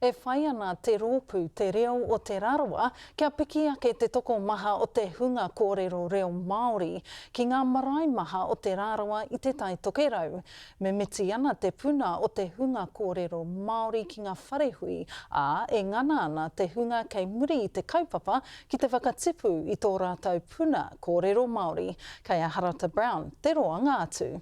E whai ana te rōpū Te Reo o Te Rarawa kia piki ake te tokomaha o te hunga kōrero reo Māori ki ngā marae maha o Te Rarawa i Te Tai Tokerau. Mimiti ana te puna o te hunga kōrero Māori ki ngā wharehui, ā, e ngana ana te hunga kei muri i te kaupapa ki te whakatipu i tō rātou puna kōrero Māori. Kei a Harata Brown te roanga atu.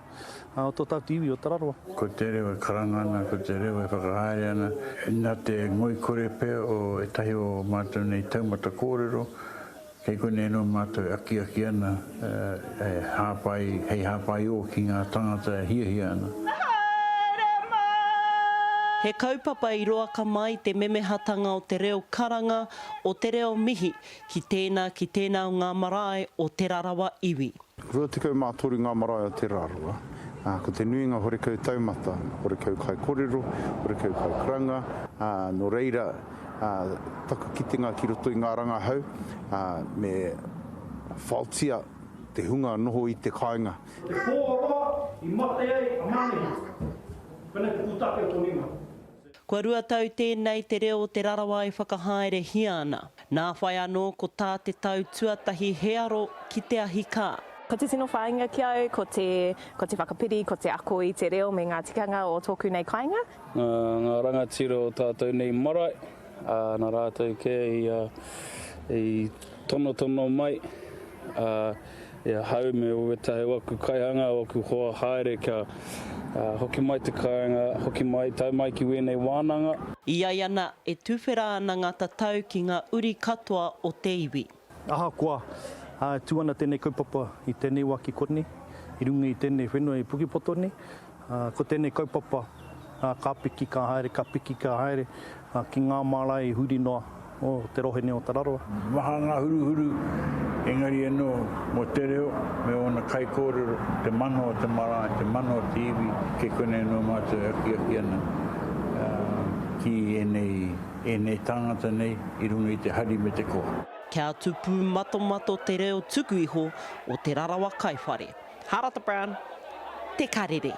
o tō tāku iwi o Tararoa. Ko te reo e karanga ana, ko te reo e whakahaere ana, nā te ngoikore pea o ētahi o ō mātou nei taumata kōrero, kei konei anō mātou e akiaki ana, e hāpai, hei hāpai ō ki ngā tāngata e hiahia ana. He kaupapa i roaka mai te memehatanga o te reo karanga, o te reo mihi ki tēnā, ki tēnā o ngā marae o Te Rarawa iwi. 23 ngā marae o Terarua, ā, ko te nuinga horekau taumata, horekau kaikorero, horekau kaikaranga, ā, nō reira, ā, taku kitenga ki roto i ngā rangahau, ā, me faotia te hunga noho i te kāinga. Te pō roa i mate ai a Manehu, pēnei te pūtake o tō nuinga. Kua rua tau tēnei te reo o Te Rarawa e whakahaerehia ana. Nā whai anō ko tā te tau tuatahi he aro ki te ahi kā. Ko te tino whāinga ki a au ko te, ko te whakapiri, ko te ako i te reo me ngā tikanga o tōku nei kāinga. Nā ngā rangatira o tātou nei marae, ā, nā rātou kē ia i tonotono mai, ā. E ahau me owe tahi o aku kaihanga, o aku hoa haere kia hoki mai te kainga, hoki mai, tau mai ki wenei wananga. E ai ana, e tuwhera ana nga tatau ki nga uri katoa o te iwi. Ahakoa, e tu ana tenei kaupapa i tenei wa ki konei, i runga i tenei whenua i Pukepoto nei, Ko tēnei kaupapa, ka piki, ka haere, ka piki, ka haere, ki ngā mārae huri noa o te rohe nei o Tararua. Maha ngā huruhuru, engari anō, mō te reo me ōna kaikōrero, te mana o te marae, te mana o te iwi, kei konei anō mātou e akiaki ana ki ēnei tāngata nei i runga i te hari me te koa. Kia tupu matomato te reo tuku iho o Te Rarawa Kaiwhare. Harata Brown, Te Karere.